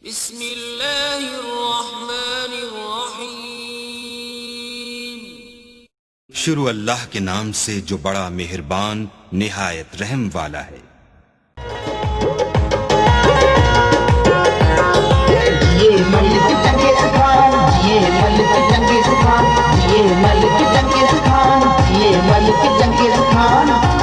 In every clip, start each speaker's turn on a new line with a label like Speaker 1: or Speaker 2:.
Speaker 1: بسم الله الرحمن الرحيم. شروع الله کے نام سے جو بڙا مهربان نهايت رحم والا هي.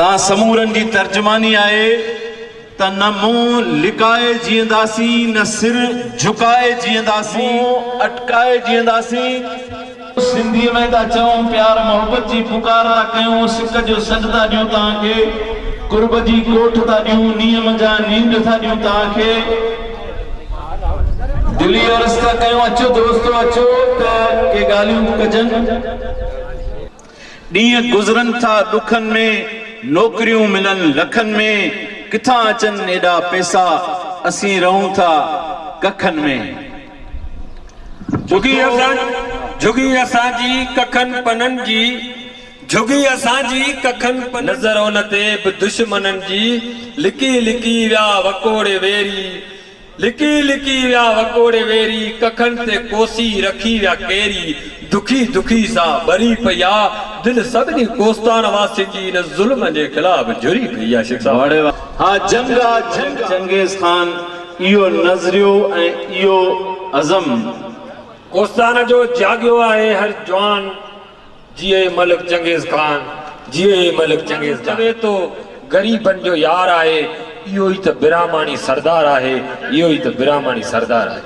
Speaker 2: تان سمورن جي ترجماني آهي ته نه منهن لڪائي جيئنداسين نه سر جهڪائي جيئنداسين منهن اٽڪائي جيئنداسين. سنڌي ۾ ٿا چئون پيار محبت جي پڪار ٿا ڪيون سڪ جو سڏ ٿا ڏيون توهان کي قرب جي ڪوٺ ٿا ڏيون نينهن منجهان نينڊ ٿا ڏيون توهان کي دل ئي عرض ٿا ڪيون اچو دوستو اچو ته ڪي ڳالهيون ڪجن. ڏينهن گذرن ٿا ڏکن ۾، نوڪريون ملن لکن ۾، ڪٿان اچن ايڏا پئسا، اسين رهون ٿا ڪکن ۾. جهڳي
Speaker 3: اسان جهڳي اسان جي ڪکن پنن جي، جهڳي اسان جي ڪکن پنن جي. نظر ان تي به دشمنن جي، لڪي لڪي ويا وڪوڙي ويري. لڪي لڪي ويا وڪوڙي ويري، ڪکن تي ڪوسي رکي ويا ڪيري، دکي دکي سان ٻري پئي آ، دل سڀني ڪوستان واسين جي ان ظلم جي خلاف جري پئي آ شيخ صاحب. ها جنگ
Speaker 2: آ جنگ چنگيز خان اهو نظريو ۽ اهو عزم.
Speaker 3: ڪوستان جو جاڳيو آهي هر جوان. جيئي ملڪ چنگيز خان جيئي ملڪ چنگيز خان. ماڻهو چوي ٿو غريبن جو يار آهي اهو ئي ته براهماڻي سردار آهي اهو ئي ته براهماڻي سردار آهي.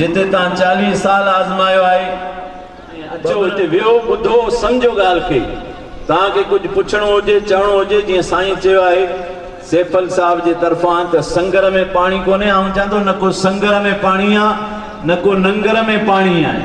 Speaker 3: جتي تان
Speaker 2: چاليهه سال آزمايو آهي ۽ اچو هتي ويهو ٻڌو سمجهو ڳالهه کي تان کي ڪجهه پڇڻو هجي چوڻو هجي جيئن سائين چيو آهي سيفل صاحب جي طرفان ته سنگر ۾ پاڻي ڪونهي آئون چان ٿو نه ڪو سنگر ۾ پاڻي آ نه ڪو ننگر ۾ پاڻي آهي.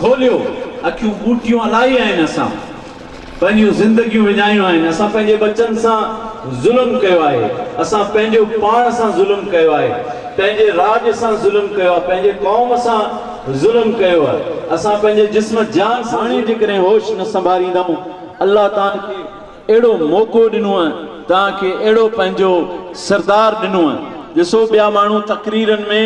Speaker 2: کوليو اکيون ٻوٽيون الائي آهن اسان پنهنجيون زندگيون وڃايون آهن اسان پنهنجي ٻچن سان ظلم ڪيو آهي اسان پنهنجو پاڻ سان ظلم ڪيو آهي پنهنجي راڄ سان ظلم ڪيو آهي پنهنجي قوم سان ظلم ڪيو آهي اسان پنهنجي جسم جان سان ظلم ڪيو آهي هاڻي جيڪڏهن هوش نه سنڀاريندائون الله تان کي اهڙو موقعو ڏنوء، توهان کي اهڙو پنهنجو سردار ڏنوء. ڏسو ٻيا ماڻهو تقريرن ۾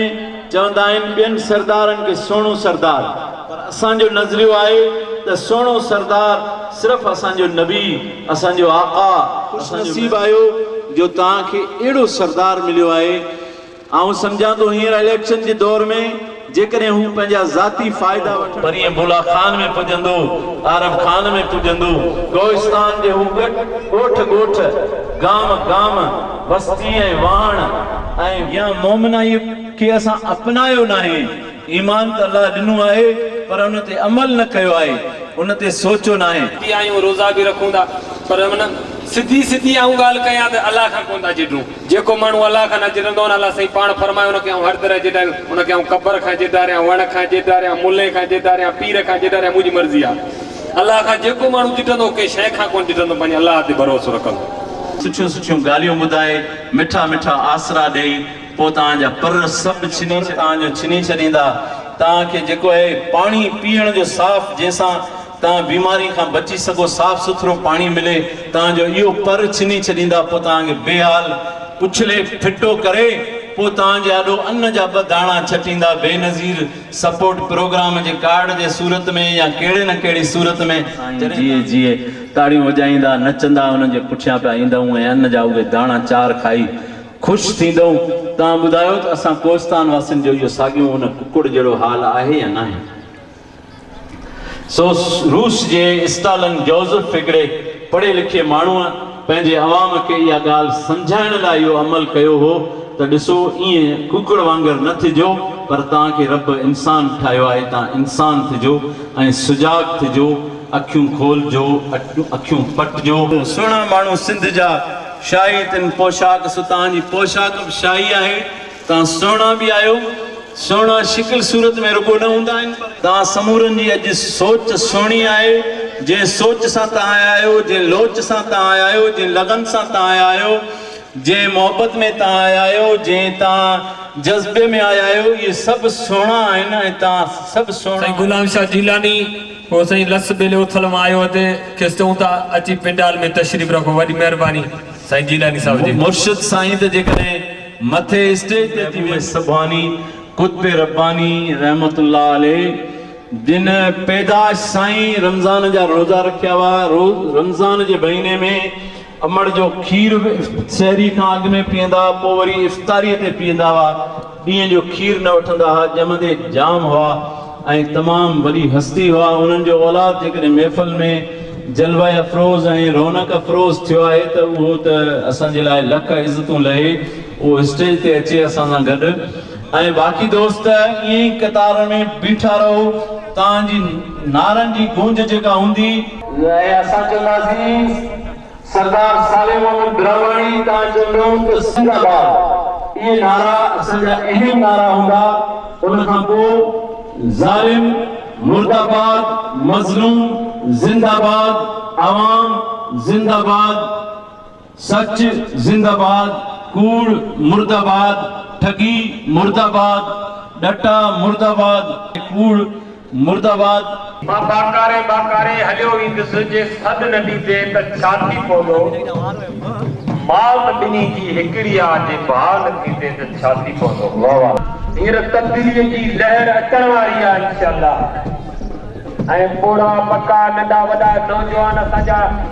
Speaker 2: چوندا آهن ٻين سردارن کي سهڻو سردار پر اسان جو نظريو آهي ته سهڻو سردار صرف اسان جو نبي، اسان جو آقا، اسان جو. خوش نصيب آهيو جو توهان کي اهڙو سردار مليو آهي. آئون سمجهان ٿو هينئر اليڪشن جي دور ۾ جيڪڏهن هو پنهنجا ذاتي فائدا وٺڻ. پرينء بلا خان ۾ پڄندو، عارب خان ۾ پڄندو، ڪوهستان جي هو ڳوٺ ڳوٺ، گام گام، بستي ۽ واهڻ ۽. يا مومنائيء کي اسان اپنايو ناهي، ايمان ته الله ڏنو آهي پر ان تي عمل نه ڪيو آهي، ان تي سوچيو ناهي. به آهيون، روزا به
Speaker 3: رکون ٿا پر ان سڌي سڌي آئون ڳالهه ڪيان ته الله کان ڪونه ٿا جهڏون. جيڪو ماڻهو الله کان نه جڙندو آهن، الله سائين پاڻ فرمايو ان کي آئون هر طرح جيڏاريان، ان کي آئون قبر کان جيڏاريان، وڻ کان جيڏاريان، ملي کان جيڏاريان، پير کان جيڏاريان، منهنجي مرضي آهي. الله کان جيڪو ماڻهو جيڏندو، ڪنهن شيء کان ڪونه جيڏندو، پنهنجي الله تي ڀروسو رکندو. سٺيون سٺيون
Speaker 2: ڳالهيون ٻڌائي، مٺا مٺا آسرا ڏئي، پوء توهان جا پر سڀ ڇني ڇڏيندا. توهان کي جيڪو اهي پاڻي پيئڻ جو صاف جنهن سان. توهان بيماري کان بچي سگهو، صاف سٿرو پاڻي ملي، توهان جو اهو پر ڇني ڇڏيندا، پوء توهان کي بي حال، اڇلي ڦٽو ڪري، پوء توهان جي آڏو ان جا ٻه داڻا ڇٽيندا، بينظير سپورٽ پروگرام جي ڪارڊ جي صورت ۾ يا ڪهڙي نه ڪهڙي صورت ۾، سائين جي جيئي جيئي تاڙيون وڄائيندا، نچندا، انهن جي پٺيان پيا ايندائون ۽ ان جا اهي داڻا چار کائي خوش ٿيندائون، توهان ٻڌايو ته اسان ڪوهستان واسين جو اهو ساڳيون ان ڪڪڙ جهڙو حال آهي يا ناهي؟ سو روس جي اسٽالن جوزف هڪڙي پڙهي لکي ماڻهوء پنهنجي عوام کي اها ڳالهه سمجهائڻ لاء اهو عمل ڪيو هو ته ڏسو ائين ڪوڪڙ وانگر نه ٿجو پر توهان کي رب انسان ٺاهيو آهي توهان انسان ٿجو ۽ سجاڳ ٿجو اکيون کولجو اکيون پٽجو. سهڻا ماڻهو سنڌ جا شاهي تن پوشاڪ سو توهان جي پوشاڪ به شاهي آهي. توهان سهڻا به آهيو. سهڻا شڪل صورت ۾ رڳو نه هوندا آهن پر. توهان سمورن جي اڄ سوچ سهڻي آهي. جنهن سوچ سان توهان آيا آهيو، جنهن لوچ سان توهان آيا آهيو، جنهن لغن سان توهان آيا آهيو، جنهن محبت ۾ توهان آيا آهيو، جنهن توهان جذبي ۾ آيا آهيو، اهي سڀ سهڻا آهن ۽ توهان سڀ سهڻا سائين آهيو. غلام شاھ جيلاني
Speaker 3: هو سائين لس ٻيلي اٿل مان آيو هتي کيس چئون ٿا اچي پنڊال ۾ تشريف رکو وڏي مهرباني سائين جيلاني صاحب جي. مرشد سائين ته جيڪڏهن. مٿي اسٽيج تي ٿي محبوب سبحاني قطب رباني رحمة الله عليه جن پيدائش سان ئي رمضان جا روزا رکيا هئا روز رمضان جي مهيني ۾ امڙ جو کير سحري کان اڳ ۾ پيئندا هئا پوء وري افطاري تي پيئندا هئا ڏينهن جو کير نه وٺندا هئا ڄمندي جام هئا ۽ تمام وڏي هستي هئا انهن جو اولاد جيڪڏهن محفل ۾ جلوه افروز ۽ رونق افروز ٿيو آهي ته اهو ته اسان جي لاء لک عزتون لهي اهو اسٽيج تي اچي اسان سان گڏ ۽ باقي دوست ائين ئي قطار ۾ بيٺا رهو توهان جي نعرن جي گونج جيڪا هوندي اها اسان کي معزيز سردار صالح محمد براهواڻي ڪانه چوندو هو ته سنڌ آباد، اهي نعرا اسان جا اهم نعرا هوندا، ان کان پوء ظالم، مرد آباد، مظلوم، زنده آباد، عوام، زنده آباد، سچ، زنده آباد، ڪوڙ، مرد آباد، ٺڳي، مرد آباد، ڏٽا، مرد آباد ۽ ڪوڙ، مرد آباد. مان ٻاڪاري
Speaker 4: ٻاڪاري هليو ويندس جي سڏ نه ڏيندي ته ڇا ٿي پوندو؟ مات ٻنهي جي هڪڙي آ جي ڀاء نه ٿيندي ته ڇا ٿي پوندو؟ واه واه. هينئر تبديليء جي لهر اچڻ واري آ انشاء الله ۽ پوڙها پڪا ننڍا وڏا نوجوان اسان جا